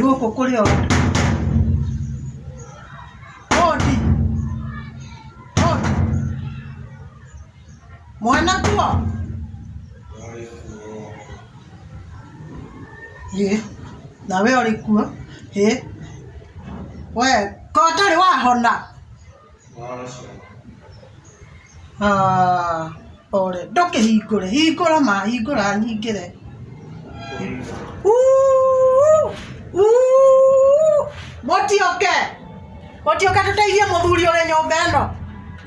Gũkũ kũrĩ o. Hodi. Hodi. Mwana kuo. Ĩ, na we ũrĩ kuo. Ĩ. We, ko ũtarĩ wahona? Ndũkĩhingũre, hingũra ma, hingũra nyingĩre. Mũti ũke, mũti ũke tũteithie mũthuri ũrĩ nyũmba ĩno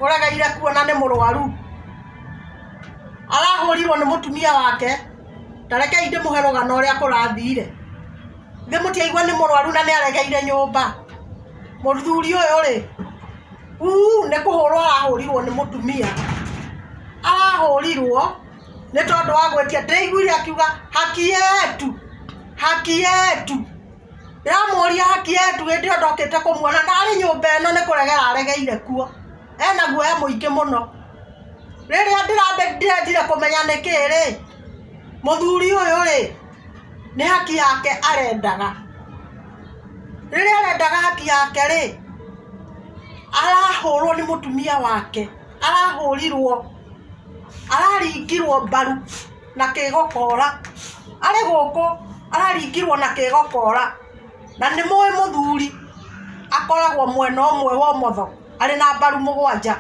ũregeire kuo na nĩ mũrwaru. Arahũrirwo nĩ mũtumia wake, ta rekei ndĩmũhe rũgano ũrĩa kũrathire. Githĩ mũtiaigua nĩ mũrwaru na nĩaregeire nyũmba? Mũthuri ũyũ rĩ, uuu nĩ kũhũrwo arahũrirwo nĩ mũtumia, arahũrirwo nĩ tondũ wa gwĩtia. Ndĩraiguire akiuga haki yetu, haki yetu. Ndĩramũria haki yetu hĩndĩ ĩyo ndokĩte kũmuona na arĩ nyũmba ĩno nĩ kũregera aregeire kuo. Ena guoya mũingĩ mũno. Rĩrĩa ndĩrendire kũmenya nĩkĩĩ rĩ, mũthuri ũyũ rĩ... nĩ haki yake arendaga rĩrĩa arendaga haki yake rĩ arahũrwo nĩ mũtumia wake arahũrirwo araringirwo mbaru na kĩgokora arĩ gũkũ araringirwo na kĩgokora na nĩ mũĩ mũthuri akoragwo mwena ũmwe wa ũmotho arĩ na mbaru mũgwanja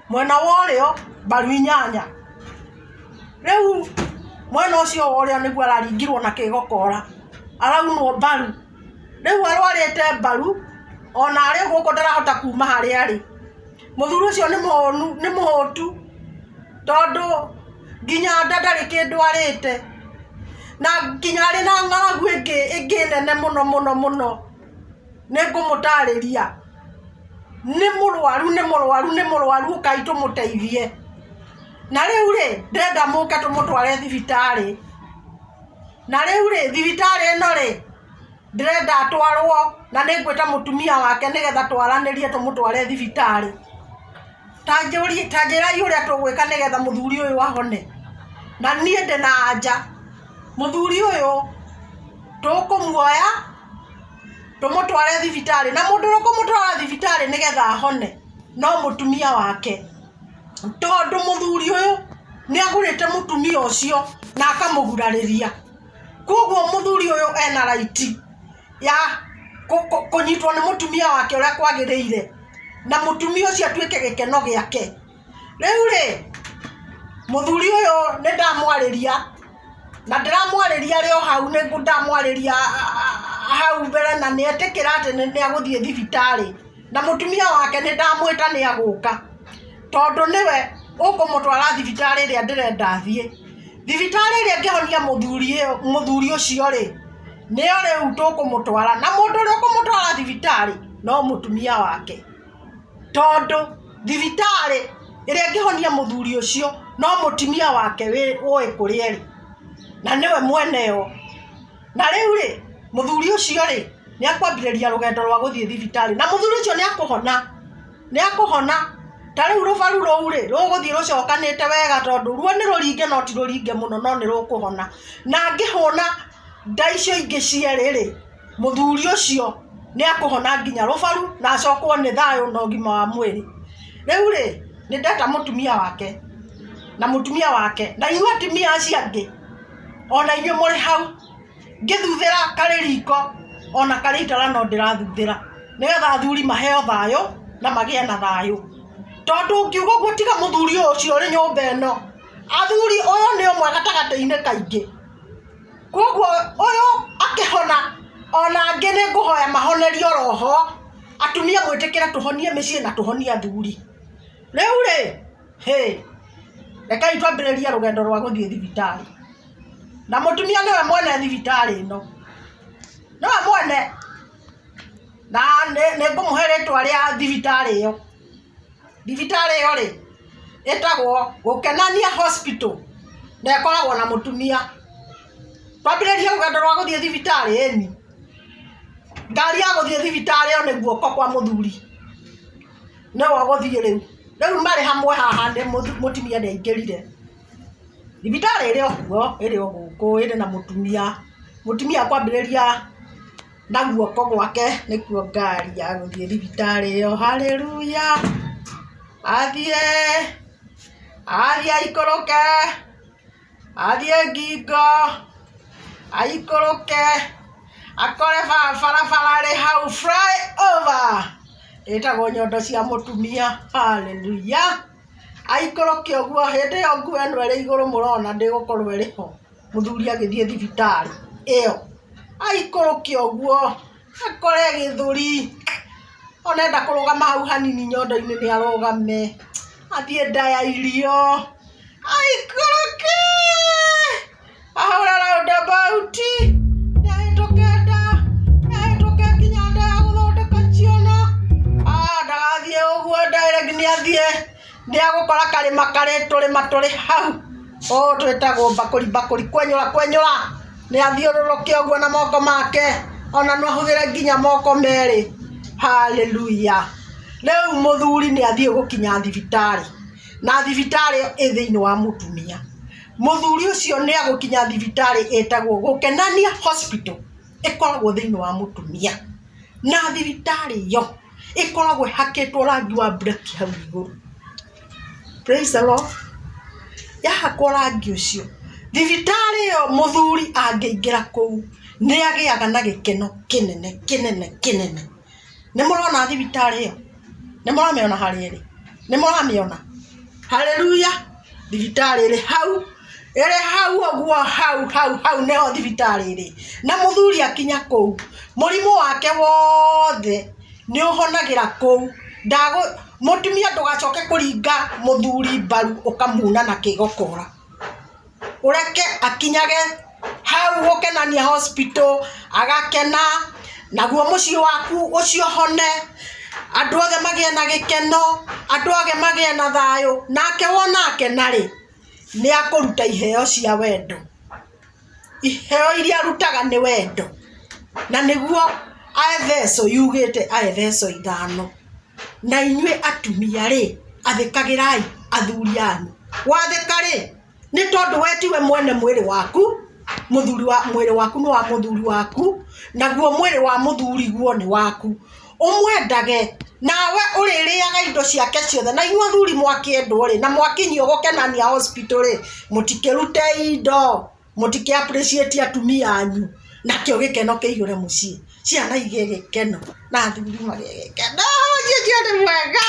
mwena wa ũrĩo mbaru inyanya rĩu mwena ũcio wa ũrĩa nĩguo araringirwo na kĩgokora araunwo mbaru rĩu arwarĩte mbaru ona arĩ gũkũ ndarahota kuma harĩa arĩ mũthuri ũcio nĩ mũhũnu nĩ mũhũtu tondũ nginya nda ndarĩ kĩndũ arĩte na nginya arĩ na ng'aragu ĩngĩ ĩngĩ nene mũno mũno mũno nĩ ngũmũtarĩria nĩ mũrwaru nĩ mũrwaru nĩ mũrwaru ũkai tũmũteithie na rĩu rĩ ndĩrenda mũke tũmũtware thibitarĩ na rĩu rĩ thibitarĩ ĩno rĩ ndĩrenda atwarwo na nĩ ngwĩta mũtumia wake nĩgetha twaranĩrie tũmũtware thibitarĩ ta njũrie ta njĩrai ũrĩa tũgwĩka nĩgetha mũthuri ũyũ ahone na niĩ ndĩna anja mũthuri ũyũ tũkũmuoya tũmũtware thibitarĩ na mũndũ ũrĩa ũkũmũtwara thibitarĩ nĩgetha ahone no mũtumia wake tondũ mũthuri ũyũ nĩ agũrĩte mũtumia ũcio na akamũgurarĩria kwoguo mũthuri ũyũ ena raiti ya kũnyitwo nĩ mũtumia wake ũrĩa kwagĩrĩire na mũtumia ũcio atuĩke gĩkeno gĩake. Rĩu rĩ, mũthuri ũyũ nĩ ndamwarĩria, na ndĩramwarĩria arĩ o hau, nĩ ndamwarĩria hau mbere na nĩ etĩkĩra atĩ nĩ egũthiĩ thibitarĩ. Na mũtumia wake nĩ ndamwĩta nĩ egũka, tondũ nĩwe ũkũmũtwara thibitarĩ ĩrĩa ndĩrenda athiĩ. Thibitarĩ ĩrĩa ĩngĩhonia mũthuri ũcio rĩ, nĩyo rĩu tũkũmũtwara. Na mũndũ ũrĩa ũkũmũtwara thibitarĩ no mũtumia wake. tondũ thibitarĩ ĩrĩa ĩngĩhonia mũthuri ũcio no mũtumia wake ũĩ kũrĩa ĩrĩ na nĩwe mwene yo, na rĩu rĩ mũthuri ũcio rĩ nĩ akwambĩrĩria rũgendo rwa gũthiĩ thibitarĩ na mũthuri ũcio nĩ akũhona, nĩ akũhona ta rĩu rũbaru rũu rĩ rũgũthiĩ rũcokanĩte wega tondũ ruo nĩ rũringe no ti rũringe mũno no nĩ rũkũhona na angĩhũna nda icio ingĩ cierĩ rĩ. Mũthuri ũcio nĩ ekũhona nginya rũbaru na acokwo nĩ thayũ na ũgima wa mwĩrĩ. Rĩu rĩ, nĩ ndeta mũtumia wake na mũtumia wake. Na inyuĩ atumia acio angĩ, o na inyuĩ mũrĩ hau, ngĩthuthĩra karĩ riko, o na karĩ itara no ndĩrathuthĩra, nĩgetha athuri maheo thayũ na magĩe na thayũ. Tondũ tũngiuga ũguo tiga mũthuri ũcio ũrĩ nyũmba ĩno. Athuri, ũyũ nĩ ũmwe gatagatĩ-inĩ kaingĩ. Kwoguo ũyũ akĩhona ona angĩ nĩ ngũhoya mahonerio roho atumia mwĩtĩkĩre tũhonie mĩciĩ na tũhonie athuri rĩu rĩ hĩ rekai twambĩrĩrie rũgendo rwa gũthiĩ thibitarĩ na mũtumia nĩwe mwene thibitarĩ ĩno nĩwe mwene na nĩ ngũmũhe rĩtwa rĩa thibitarĩ ĩyo. Thibitarĩ ĩyo rĩ, ĩtagwo Gũkenania Hospital, na ĩkoragwo na mũtumia. Twambĩrĩrie rũgendo rwa gũthiĩ thibitarĩ ĩni, ngari ya gũthiĩ thibitarĩ ĩyo nĩ guoko kwa mũthuri, nĩ we ũgũthiĩ rĩu. Rĩu marĩ hamwe haha nĩ mũtumia nĩ aingĩrire. Thibitarĩ ĩrĩ o kuo, ĩrĩ o gũkũ, ĩrĩ na mũtumia. Mũtumia ekwambĩrĩria... Na guoko gwake nĩkuo ngari ya gũthiĩ thibitarĩ ĩyo. Hallelujah! Athiĩ! Athiĩ aikũrũke! Athiĩ ngingo! Aikũrũke! Akore barabara ĩrĩ hau, fly over! Ĩtagwo nyondo cia mũtumia. Hallelujah! Aikũrũke ũguo, hĩndĩ ĩyo nguo ĩno ĩrĩ igũrũ mũrona ndĩgũkorwo ĩrĩ ho. Mũthuri agĩthiĩ thibitarĩ ĩyo, aikũrũkia ũguo akore gĩthũri, ona enda kũrũgama hau hanini nyondo-inĩ nĩ arũgame, athiĩ nda ya irio, aikũrũkee, ahũre round about, nĩ ahĩtũke nda, nĩ ahĩtũke nginya nda ya gũthondeka ciana, aah ndagathiĩ ũguo nda ĩrĩa nginya athiĩ. Nĩ egũkora karĩma karĩ tũrĩma tũrĩ hau o twĩtagwo mbakũri mbakũri kwenyũra kwenyũra nĩ athiũrũrũke ũguo na moko make ona no ahũthĩre nginya moko merĩ hallelujah rĩu mũthuri nĩ athiĩ gũkinya thibitarĩ na thibitarĩ ĩ thĩinĩ wa mũtumia mũthuri ũcio nĩ egũkinya thibitarĩ ĩtagwo gũkenania hospital ĩkoragwo thĩinĩ wa mũtumia na thibitarĩ ĩyo ĩkoragwo ĩhakĩtwo rangi wa mburaki hau igũrũ praise the Lord yahakwo rangi ũcio thibitarĩ ĩyo mũthuri angĩingĩra kũu nĩ agĩaga na gĩkeno kĩnene kĩnene kĩnene nĩ mũrona thibitarĩ ĩyo nĩ mũramĩona harĩa ĩrĩ nĩ mũramĩona haleluya thibitarĩ ĩrĩ hau ĩrĩ hau ũguo hau hau hau nĩho thibitarĩ ĩrĩ na mũthuri akinya kũu mũrimũ wake wothe nĩ ũhonagĩra kũu ndagũ mũtumia ndũgacoke kũringa mũthuri mbaru ũkamuuna na kĩgokora ũreke akinyage hau gũkenania hospital agakena naguo mũciĩ waku ũcio ũhone andũ othe magĩe na gĩkeno andũ othe magĩe na thayũ nake wona akena rĩ nĩakũruta iheo cia wendo iheo iria arutaga nĩ wendo na nĩguo Aeveso yugĩte Aeveso ithano na inyuĩ atumia rĩ athĩkagĩrai athuri anyu wathĩka rĩ nĩ tondũ we tiwe mwene mwĩrĩ waku mũthuri wa mwĩrĩ waku nĩ wa mũthuri waku naguo mwĩrĩ wa mũthuri guo nĩ waku ũmwendage nawe ũrĩrĩaga indo ciake ciothe na inyuĩ athuri mwakĩendwo rĩ na mwakinyio gũkenania hospital rĩ mũtikĩrute indo mũtikĩ appreciate atumia anyu nakĩo gĩkeno kĩihũre mũciĩ ciana igĩe gĩkeno na athuri magĩe gĩkeno mũciĩ ũcio nĩ mwega.